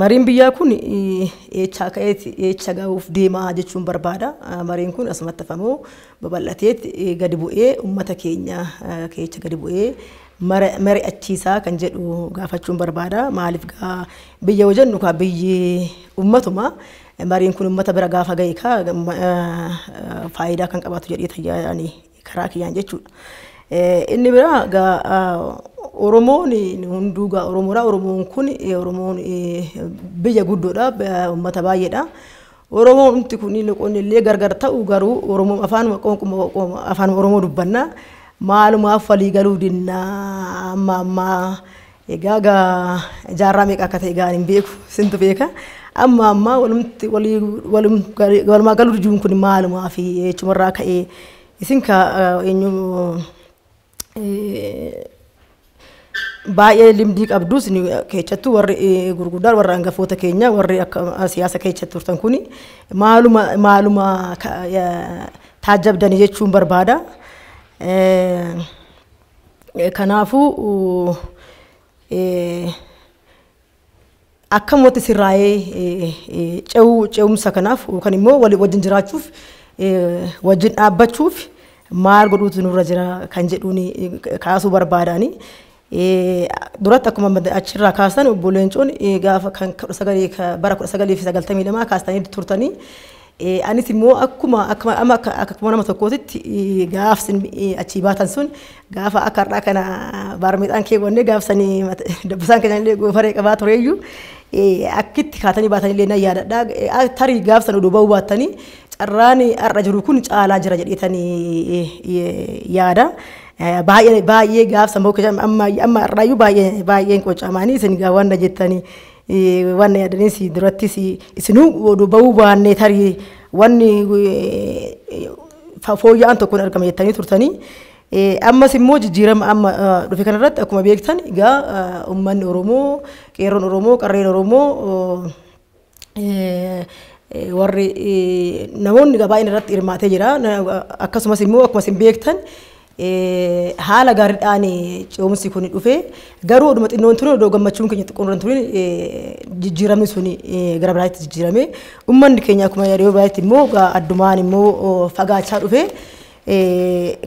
Mariin biyyaa kun eechaa ka'eeti eecha ga'uuf deemaa jechuun barbaada. Mariin kun asumatti hafamoo babal'ateet gadi bu'ee uummata keenya keecha gadi bu'ee mari'achiisaa kan jedhu gaafachuun barbaada. Maaliif gaa biyya yoo jennu kaa biyyi uummatuma mariin kun uummata bira gaafa ga'e kaa faayidaa kan qabaatu jedhee tayyaadhaan karaa kiyyaan jechuudha. Inni biraa gaa Oromoon hunduu gaa Oromoodha. Oromoon kun Oromoon biyya guddoodha. Uummata baay'eedha. Oromoon humti kun loqonni illee gargar ta'u garuu Oromoon afaanuma qoonquma afaan Oromoo dubbanna. Maalumaaf walii galuu dinnaa amma ammaa Egaa gaa jaarraa meeqa akka ta'e gaa hin beeku sintu beeka. Amma ammaa walumti walii walum walumaa galuu diduun kun maalumaa fi jechumarraa ka'ee isin ka eenyu baay'ee limdii qabdu isin keessattuu warri gurguddaan warri hangafoota keenya warri akka siyaasa keessa turtan kun maaluma maaluma taajjabdanii jechuun barbaada. Kanaafuu akkam watti sirraa'ee ce'uu ce'umsa kanaaf yookaan immoo walii wajjin jiraachuuf wajjin dhaabbachuuf maal godhuutu nurra jira kan jedhuun kaasuu barbaadaani. Duratti akkuma achirraa kaasan obbo Leencoon gaafa kan bara 1992 kaastanii turtanii Anis immoo akkuma amma akkuma nama tokkootitti gaaf sin achii baatan sun gaafa akka har'aa kana baarmeexaan keewwannee gaaf sanii dabbasaan keenya illee goofaree qabaa tureeyyuu akkitti kaatanii baatan illee nan yaadadha. Tarii gaaf san oduu ba'uu baattanii carraan har'a jiru kun caalaa jira jedheetanii yaada. Baay'ee baay'ee gaaf san ba'uu keessatti amma amma har'aayyuu baay'ee baay'een qocamaanii isin gaawwanna jettanii. Wanni yaadanii si durattis isinuu oduu ba'uu baannee tarii wanni fooyya'aan tokko hin argame jettanii turtanii. Ammas immoo jijjiirama amma dhufe kanarratti akkuma beektan egaa uummanni Oromoo, qeerroon Oromoo, qarreen Oromoo warri namoonni baay'een irratti hirmaatee jira. Akkasumas immoo akkuma isin beektan Haala gaariidhaan ce'umsi kun dhufe. Garuu oduma xinnoon ture odoo gammachuun keenya xiqqoon irra turin jijjiiramni sun gara biraatti jijjiirame. Uummanni keenya akkuma yeroo biraatti immoo addumaan immoo fagaachaa dhufe.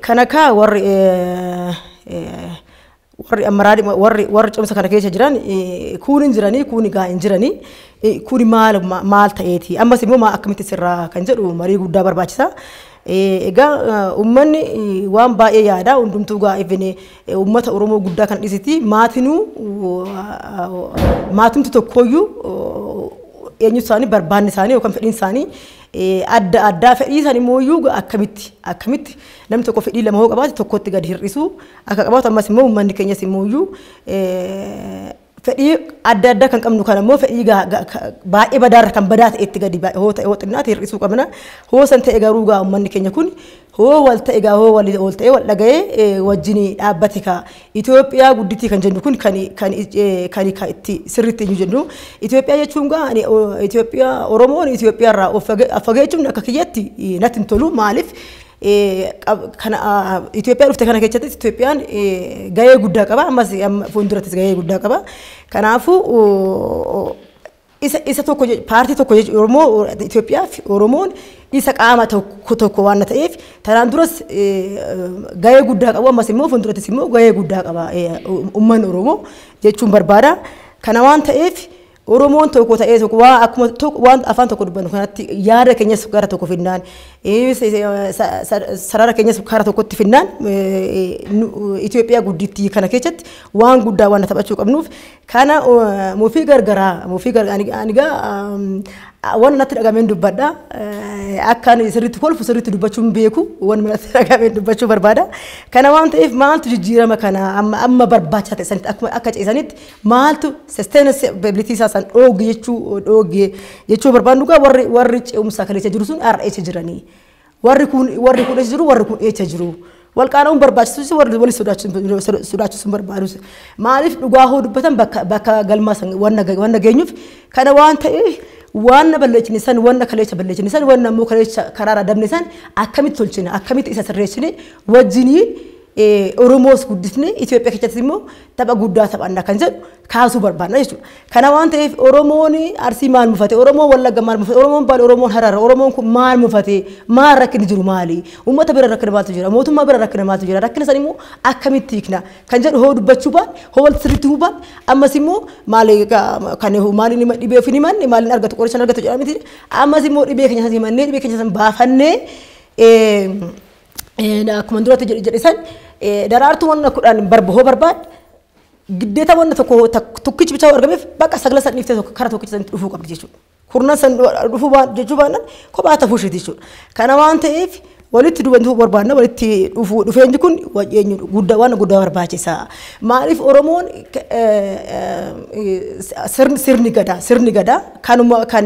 Kan akka warri Warri ammaraa warri warri cimsa kana keessa jiran kuun hin jiranii kuun egaa hin jiranii kuun maal maal ta'eeti ammas immoo maa akkamitti sirraa kan jedhu marii guddaa barbaachisa. Egaa uummanni waan baay'ee yaada hundumtuu gaa ifine uummata Oromoo guddaa kan dhisiti maatinuu maatumti tokkooyyuu eenyu isaanii barbaanni isaanii yookaan fedhiin isaanii adda addaa fedhii isaanii immoo akkamitti akkamitti namni tokko fedhii lama hoo qabaate tokkotti gadi hir'isuu akka qabaatu ammas immoo uummanni keenyas immoo iyyuu fedhii adda addaa kan qabnu kan immoo fedhii baay'ee badaarra kan badaa ta'etti gadi hoo ta'e hoo xinnaate hir'isuu qabna. Hoo san ta'e garuu gaa uummanni keenya kun hoo wal ta'e gaa hoo wal wal ta'e wal dhaga'ee wajjin dhaabbate kaa Itoophiyaa gudditii kan jennu kun kan kan kan kan itti sirriitti hin jennu Itoophiyaa jechuun gaa ani Itoophiyaa Oromoon Itoophiyaa irraa of fageechuun akka kiyyatti natti hin tolu maaliif Kana Itoophiyaa dhufte kana keessattis Itoophiyaan gahee guddaa qaba. Ammas fuuldurattis gahee guddaa qaba. Kanaafuu isa isa tokko paartii tokko jechuudha Oromoo Itoophiyaaf Oromoon isa qaama tokko tokko waan ta'eef tanaan duras gahee guddaa qabu ammas immoo fuuldurattis immoo gahee guddaa qaba uummanni Oromoo jechuun barbaada. Kana waan ta'eef Oromoon tokko ta'ee tokko waa akkuma tokko waan afaan tokko dubbannu kanatti yaada keenyas gara tokko finnaan eh, se- se- sa- sa- sarara keenyas gara tokkotti finnaan eh, nu- Itoophiyaa guddittii kana keessatti waan guddaa waan taphachuu qabnuuf kana eh, mufii gargaraa mufii gargaraa ani ani gaa um, waan natti dhagameen dubbadha Eh, akka ani sirriitti kolfu sirriitti dubbachuun beeku waan natti dhagameen dubbachuu barbaada kana waan ta'eef maaltu jijjiirama kana amma amma barbaachisaa ta'e sanitti akkuma akka ce'isanitti Maaltu sustenance ability isaa san dhooge jechuu dhooge jechuu barbaadnu gaa warri warri ce'umsa kaleessa jiru sun har'a eessa jiranii? Warri kun warri kun eessa jiru warri kun eessa jiru? Wal qaana'uun barbaachisus warri wali sodaachisuun sodaachisuun barbaadus maaliif dhugaa hoo dubbatan bakka bakka galmaa san wanna wanna geenyuuf kana waan ta'eef wanna balleessine san wanna kaleessa balleessine san wanna immoo kaleessa karaara dabne san akkamitti tolchina akkamitti isa sirreessine wajjiniin Oromoos guddisne Itoophiyaa keessatti immoo tapha guddaa taphanna kan jedhu kaasuu barbaadna jechuudha. Kana waan ta'eef Oromoon Arsii maal mufate, Oromoon Wallagga maal mufate, Oromoon Baal, Oromoon Harara, Oromoon kun maal mufate, maal rakkinni jiru maali, uummata bira rakkina maaltu jira, mootummaa bira rakkina maaltu jira, rakkina san immoo akkamitti hiikna kan jedhu hoo dubbachuu baan, hoo wal sirriitti huu baan, ammas immoo maali kan maaliin hima dhibee ofin himanne maaliin argatu qorichaan argatu jedhamiti, ammas immoo dhibee keenya san himannee dhibee keenya san baafannee Akkuma duratti jedhe san daraartuu wanna kudhan barba hoo barbaad giddeeta wanna tokko tokkichi bichaa argameef bakka sagla san dhiiftee tokko kara tokkicha sanitti dhufuu qabdi jechuudha. Kurnan san dhufuu jechuu baannan kophaa ta'uu isheeti jechuudha. Kana waan ta'eef walitti dubantuu barbaadna walitti dhufuu dhufeenyi kun eenyu guddaa waan guddaa barbaachisa. Maaliif Oromoon sirni gadaa sirni gadaa kanuma kan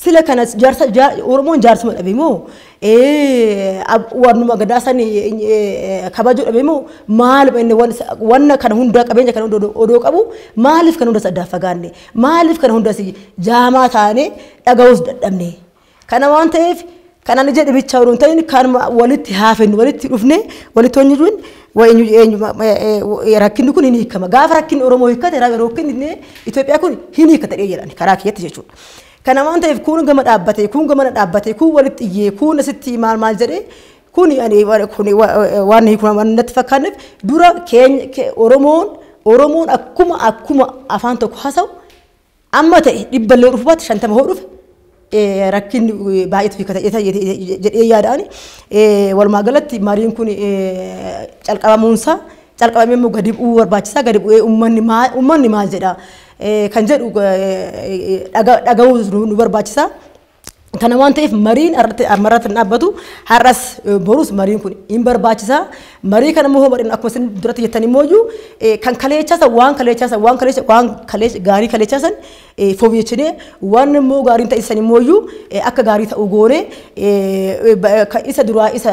Sila kana jaarsa ja- Oromoon jaarsuma dhabe moo eh, ab- waanuma gadaa san eh, eh, kabajuu dhabe moo maaluma inni wan- wanna kana hundaa qabeenya kana hunda odoo- odoo qabu maaliif kana hundas addaan fagaanne maaliif kana hundas jaamaa taane dhaga'uus dadhabne kana waan ta'eef kan ani jedhe bichaa odoo hin ta'in kan ma- walitti haafennu walitti dhufne walitti hojii jiruun eenyu eenyu ma- ma- eh, eh, rakkinni kun hin hiikama gaafa rakkinni Oromoo hiikkate rakkinni Itoophiyaa kun hin hiikkata jedhan karaa kiyyatti jechuudha. Kana waan ta'eef kuun gama dhaabbatee kuun gamana dhaabbatee kuun walitti iyyee kuun asitti maal maal jedhee kuni ani kuni waan hiiku natti fakkaanneef dura keenya Oromoon Oromoon akkuma akkuma afaan tokko haasa'u amma ta'e dhibba illee dhufu baate shantama hoo dhufe rakkin baay'eetu hiika ta'e jedhee yaada'ani walumaa galatti mariin kun calqabamuunsaa calqabamee immoo gadi bu'uu barbaachisaa gadi bu'ee uummanni maal jedha kan jedhu dhagahuu nu barbaachisa. Kana waan ta'eef mariin ammarratti hin dhaabbatu har'as borus mariin kun hin barbaachisa. Marii kana immoo mariin akkuma isin duratti jettan immoo kan kaleechaasa waan kaleechaasa waan kaleecha waan kaleecha gaarii kaleechaasan fooyyechinee waan immoo gaariin ta'isan immoo akka gaarii ta'u goone isa duraa isa